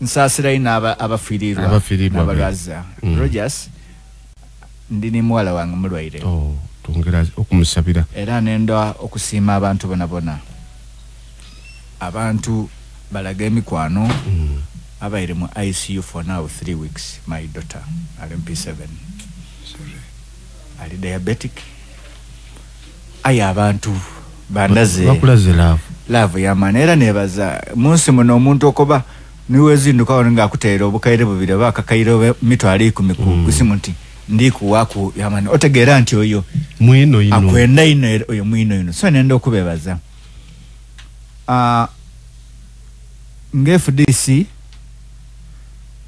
nsasirayo n'abafiiriirwa n'abalwaza mm. rogers ndi ne muwala wange mulwaire oh, twongera okumusabira era nenda okusiima abantu bona bona abantu balaga emikwano mm. abaire mu icu for now three weeks my daughter ali mp seven ali diabetic Aye abantu bandaze bakulaze laavu laavu yamaani era nebaza munsi muno omuntu okoba niwezinduka wano nga akuteera obukaire bubiri oba akakaire oba mitwalo ikumi ku mm. kusimu nti ndikuwaku yamaani otegeera nti oyo mwino ino akwenda ino oyo mwino ino so nenda okubebaza uh, nga fdc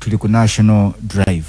tuli ku national drive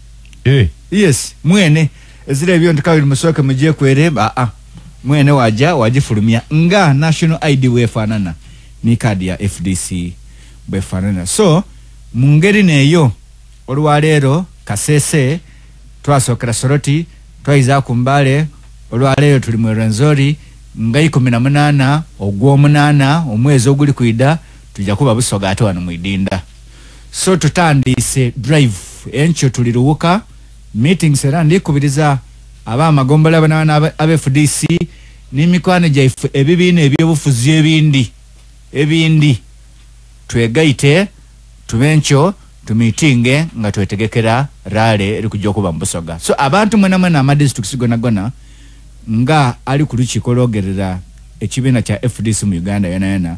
eh yes mwene ezira ebyo nti kawiri musooke mugyekwere aa ah, ah. mwene waja wagifulumya nga national id wefaanana ni kaadi ya fdc bwefaanana so mu ngeri neeyo olwaleero kasese twasookera soroti twayiza ku mbaale olwaleero tuli mu erwenzori nga ikumi na munaana ogw'omunaana omwezi oguli kwida tujja kuba busoga ate wano mwidinda so tutandiise drive enkyo tuli luwuka meetings era ndikubiriza aba amagombola banawana aba fdc n'emikwano gyaife ebibiina ebyobufuzi ebindi ebindi twegaite tube nkyo tumitinge nga twetegekera rale eri kujja okuba mu busoga so abantu mwena mwena amadistricts gonagona nga ali ku lukiiko lwogerera ekibiina kya fdc mu uganda yonayona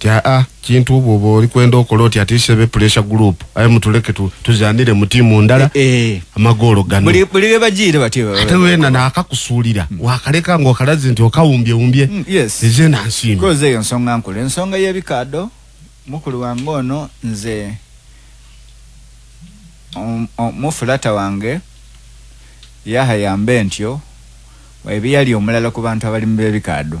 ti aa ah, ah, kintu obwo obo oli kwenda okola oti ati sebe pressure group aye mutuleke tu, tuzanire mu tiimu ndala e, e. amagoolo gano buli buli bajiire bati ate wena nakakusuulira mm. wakaleka nga okalazi nti okawumbye wumbye mm, yes eze na nsiima koze eyo nsonga nkulu ensonga y'ebikaado mukulu wange ono nze um, um, mufulata wange yahayambe ntyo ebiyali omulala ku bantu abali mu b'ebikaado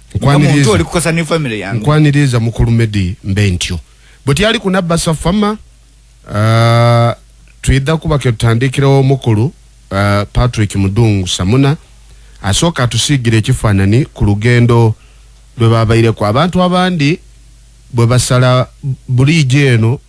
nkwaniriza mukulu medi mbe ntyo bwe tyali kunabbasa fama uh, twidha kuba ke tutandikirawo omukulu uh, patrick mudungu samuna asooka atusiigira ekifaanani ku lugendo lwe babaireko abantu abandi bwe basala buliijo eno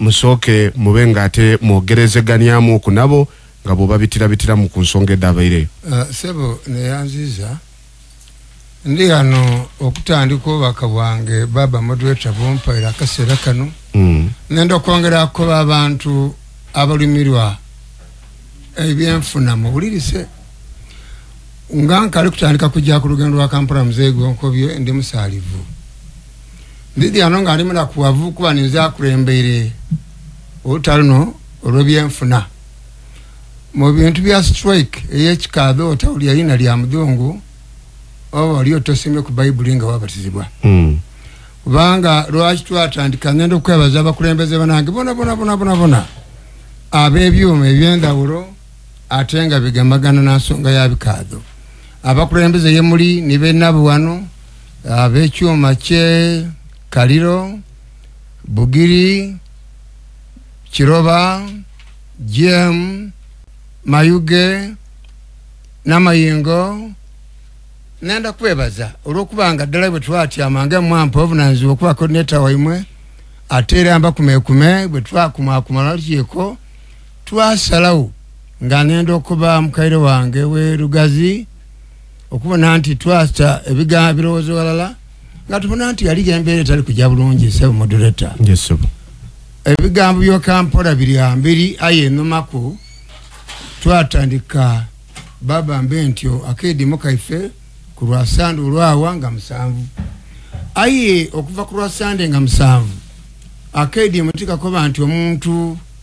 musooke mube nga ate mwogerezeganyamu ku nabo nga bwobabitirabitiramu ku nsonga edabaire. Uh, sebo neyanziza ndi hano okutandika obubaka bwange baba moderator bumpaire akaseera kano mm. nenda okwongera kukoba abantu abalumirwa ebyenfuna muwulirise nga nkali kutandika kujja ku lugendo lwa kampala muzeeyi gwonkobye ndi musaalivu Ndidi ano ng'ali munakuwavu kuba ninze akulembere oluta luno olw'ebyenfuna mu bintu bya strike ey'ekikaadho otawuli yalina lya mudhungu oba oli otosomye ku bayibuli nga wabatizibwa hmm. kubanga lwaki twatandika ngenda okwebaza abakulembeze banange bona bona bona bona bona ab'ebyuma eby'endawulo ate nga bigamagana na nsonga ya bikaadho abakulembeze ye muli ni benabwe wano ab'ekyuma kye kaliro bugiri kiroba gm mayuge n'amayingo nenda kwebaza olw'okuba nga ddala bwe twatyama nga mwampa obunanzibwa okuba kodineta waimwe ate era mbakumekume bwe twakumakumala kyeko Twasalawo nga nenda okuba mukaire wange we Lugazi okubona nti twasta ebigambo ebirowoozo walala nga tubona nti yali embeera etali kujja bulungi sebo moduleta ebigambo byokampora biri ambiri aye enumaku twatandika baba mbe ntyo akeedimu kaife ku lwasande olwawa nga musanvu aye okuva ku lwasande nga musanvu akeedimu tikakoba nti omuntu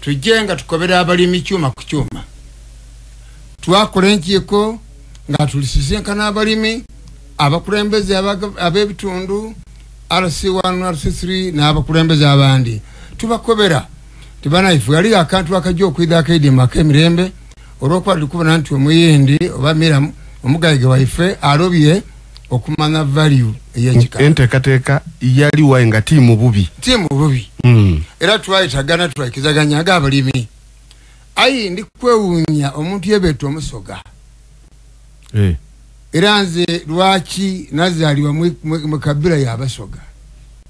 tujje nga tukobera abalimi kyuma ku kyuma twakola enkiiko nga tulisisinkana abalimi abakulembeze ab'ebitundu rc1 rc3 n'abakulembeze abandi tubakobera tibanayifu yali akantu akajja okwidha akaidima ak'emirembe olwokuba tuli kubona nti omuyindi oba miram omugayige waife alobye okumanya value eyekika enteekateeka yali wayi nga tiimu bubi tiimu bubi hmm. era twayitagana twaikizaganya aga abalimi ayi ndi kwewunya omuntu yebeeta omusoga eh. era nze lwaki nazaalibwa mu kabira yabasoga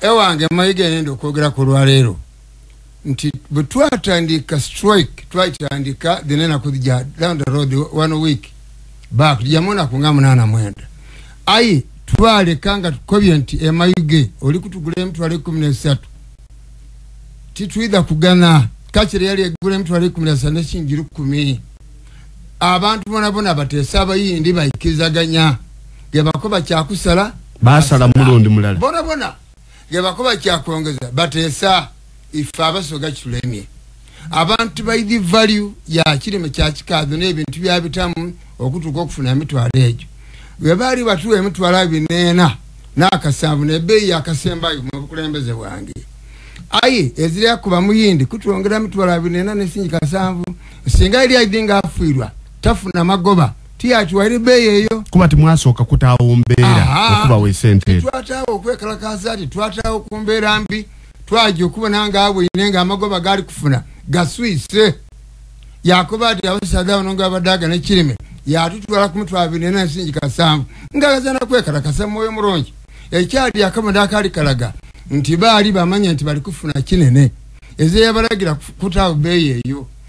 ewange mayiga nenda okwogera ku lwaleero nti bwe twatandika strike twatandika dhenenaku ja down the road one week back jamunaku nga munaana mwenda aye twaleka nga tukobye nti emayuge oli kutugula emitwalo ekumi nesatu titwidha kugana kakire yali egula emitwalo ekumi nesatu nekinjiri kumi abantu bonabona bateesa abayindi baikizaganya gebako bakyakusala basala mulundi mulala bona bona gebakuba kyakwongeza batesa ife abasoga kitulemye abantu baidi value ya kirime kyakikazi nebintu byabitamu okutuka okufuna emitwalo egyo webaali batuwa emitwalo abineena nakasanvu nebeeyi yakasembayo mubukulembeze bwange aye ezirya kuba muyindi kutwongera mitwalo abineena nesingi kasanvu singa eri aidi nga afuirwa tafuna magoba tiyakiwa eri bbeeyi eyo kuba timwasooka kutaawo mbeera okubawa esente ezo twataawo okwekalakaasa ti twataawo ku mbeera mbi twajja okubona nga abwine nga amagoba gaali kufuna gaswise yakuba ti abasaza bano nga abadaaga ne kirime yatutwala ku mutwe abiri nena nsingi kasanvu ngalaza nakwekalakasa mwoyo mulungi ekyali akamada akaali kalaga nti baali bamanya nti bali kufuna kinene ezeyabalagira kutaawo bbeeyi eyo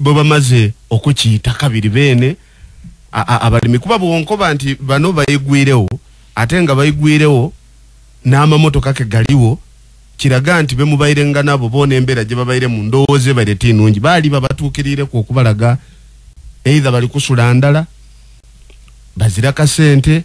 bwebamaze okukiyita kabiri beene abalimi kuba bwonkoba nti bano bayigwirewo ate nga bayigwirewo n'amamotoka ke galiwo kiraga nti bemubayirenga nabo boona embeera gye babayire mu ndowooza ebaire ti nungi baali babatuukiriireku okubalaga eitha bali kusula ndala bazira kasente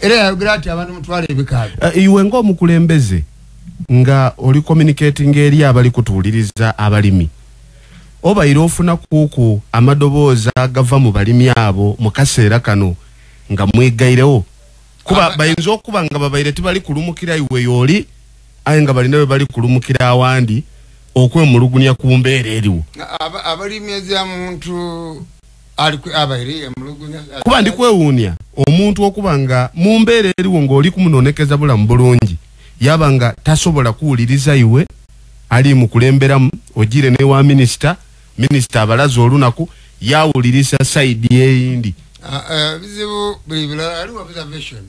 era yayogera ati abantu mutwala ebikaali uh, eh, iwe ngaomukulembeze nga oli communicating eri abali kutuwuliriza abalimi obaire ofuna kuku amadoboozi agava mu balimi abo mu kaseera kano nga mwegairewo kuba bayinza okuba nga babaire tibali kulumukira iwe yooli aye nga balina bebali kulumukira awandi okwemulugunya ku mbeera eriwo abalimi ezamuntu kuba ndi kwewuunya omuntu okuba nga mu mbeera eriwo ng'oli kumunonekeza bulamu bulungi yaba nga tasobola kuwuliriza iwe ali mukulemberamu ojire newa minisita minisita abalaza olunaku yawulirisa saidi eyindi ah, eh, bizibu buli bilala aliwo observation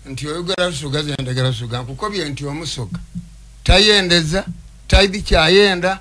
nti oyogera lusoga zendagera lusoga nkukobye nti omusoga tayendeza taidi kyayenda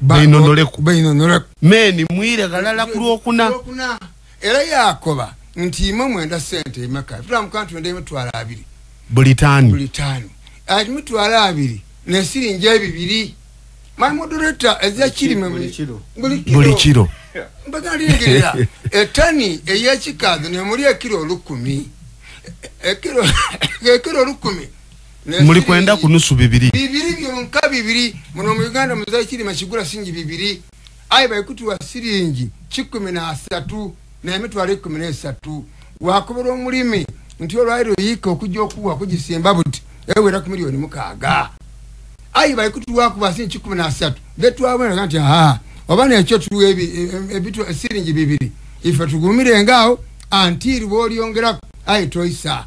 beinonoleku meni mwire ghalala ku lwokuna era yakoba nti imwe mwenda sente emeka tulamuka nti wenda emitwalo abiri buli tani buli tani ati mitwalo abiri nesiringi ebibiri my moderator ezya kirime buli kiro mbagalingira etani eyekikazi nemuli ekiro olukumi ekiro olukumi muli kwenda kunusu bibiri bibiri byonka bibiri muno mu uganda muzayi kirima kigula singi bibiri aye baikutuwa siringi kikumi nasatu naye mitwalo ekumi nesatu wakubira omulimi nti olwairo yiika okujja okuwa kugisimba buti ewera ku miliyoni mukaaga aye baikutuwakuba singi kikumi nasatu betwabonera nti aa oba nekyo tuwa e, e, siringi bibiri ife tugumirenga awo antiiri bwolyongeraku aye toisa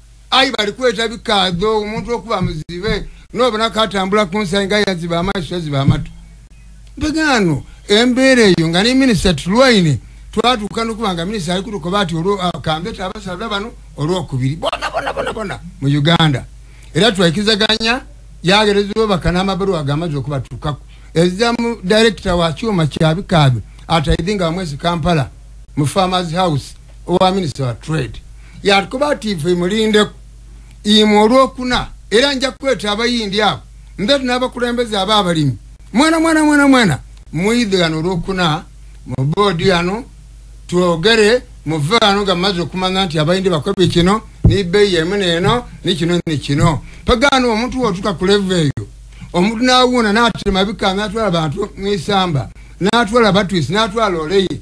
ayi bali kweta bikaadho omuntu okuba muzibe nobona katambula kunsayi nga yaziba amaiso yaziba amatu mbegano embeera eyo nga ne minisita tulwaine twatuuka nokuba nga minisita ali kutukoba ati olwokambeta ah, abasaza bano olwokubiri bona bona bona bona mu uganda era twaikizaganya yagerezebwa baka n'amabaluwa agamaze okubatuukako ezza mu direkita wa kyuma kyabikaadho ataidhi nga wamwezi kampala mu farmers house owa minisita wa trade yatukuba ati nfe mulindeku imwe olwokuna era nja kukweta abayindi abo nzati n'abakulembeze aba abalimi mwana mwana mwana mwana muyidhe gano olwokuna mu boodi yano twogere muve wano nga mumaze okumanya nti abayindi bakobi kino nibeeyi emu neeno nikino nikino pagaano omuntu wotuka ku leva eyo omuntu nawuuna natema bikanga atwala bantu mwisamba natwala batwisi natwala oleyi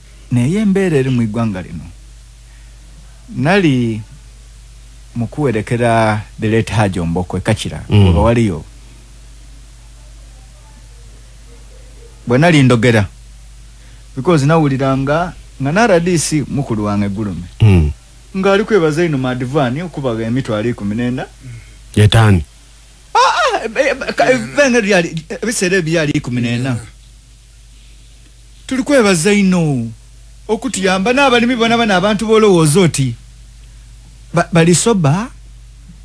Naye embeera eri mu igwanga lino nali mukuwerekera the late Hajj Omboko ekakira mm. oba waliyo bwenali ndogera because nawuliranga nga na RDC mukulu wange gulume mm. nga ali kwebaza ino madivani okubaga emitwe ali kumi nenda yetani ah, ah, eh, eh, eh, ebiseera ebyali kumi nenda tuli kwebaza ino okutuyamba n'abalimi bona bano abantu bolowooza oti bali soba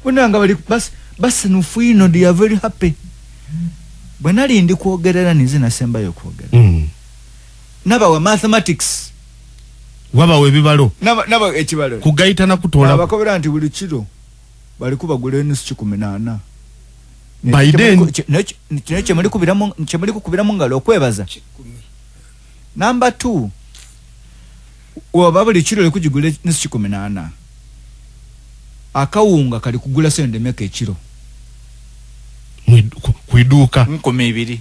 bona nga bali basinufu ino they are very happy bwe nali ndi kwogerera ninze nasembayo okwogera mm. nabawa mathematics wabawa ebibalo nabawa ekibalo kugayita nakutoola abakobera nti buli kiro bali kubagula enusu kikumi nana Biden kino kyemuli kubiramu kyemuli kukubiramu ngalo okwebaza number 2 oba buli kiro likujigula enusu kikumi nana akawunga kali kugula sente meka ekiro kuiduuka nkumi ibiri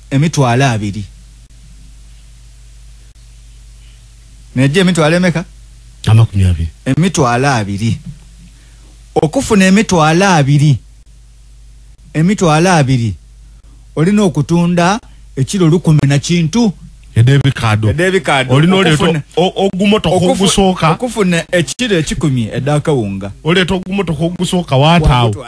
emitwalo abiri naye emitwalo emeka amakumi abiri emitwalo abiri okufuna emitwalo abiri emitwalo abiri olina okutunda ekiro lukumi na kintu edebikadoolinaogumotokaogusookaokufuna ekiro ekikumi edakawunga oleeta ogumotoka ogusooka wataawo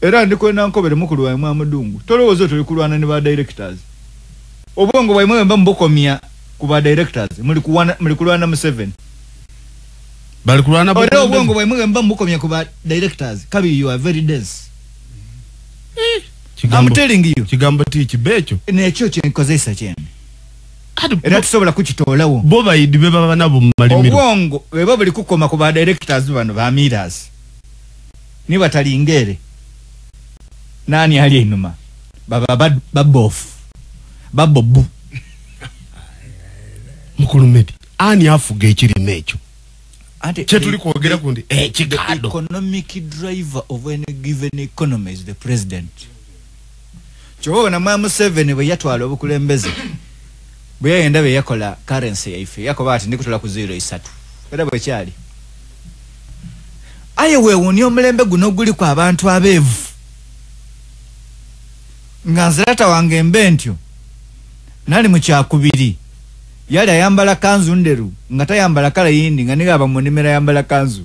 Era ndi kwena nkobere mukulu waimwe amudungu tolowoza oti olikulwana ne ba directors obwongo bwaimwe bwemba mubukomya ku ba directors muli kuwana muli kulwana museveni bali kulwana ore obwongo bwaimwe bwemba mubukomya ku ba directors kabi you are very dense eh, kigambo, I'm telling you kigambo ti kibecho nekyo kyenkozesa kyene era tusobola kukitoolawo bo bayidi be baba nabo mu malimiro obwongo bweba buli kukoma ku ba directors bano ba miras Ni batalingere nani ali enuma baba bad, babofu babobu mukulu medi ani afuga ekirime ekyo kyetuli kwogera kundi ekikado eh, economic driver of any given economy is the president kyoba bona mwa museveni bwe yatwala obukulembeze bwe yayenda bye yakola currency yaife yakoba ati ndikutula ku zero isatu era bwe kyali aye wewuuni omulembe guno guli ku abantu abeevu nga nzirata wange mbe ntyo nali mu kyakubiri yali ayambala kanzu nderu nga tayambala kala yindi nga niga abamunimira ayambala kanzu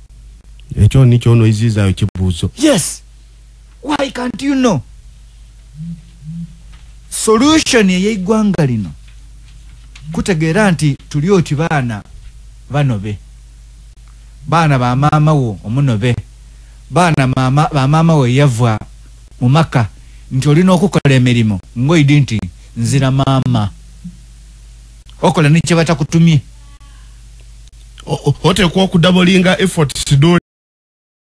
ekyo nikyo ono izizayo kibuzo yes why can't you know solution eyeiggwanga lino kutegeera nti tuli oti baana banobe baana bamaama wo omunobe baana bamaama wo eyavwa mu maka nti olina okukola emirimu ngoidi nti nzira maama okola nekyebatakutumye oteekwa okudabolinga effort sidoli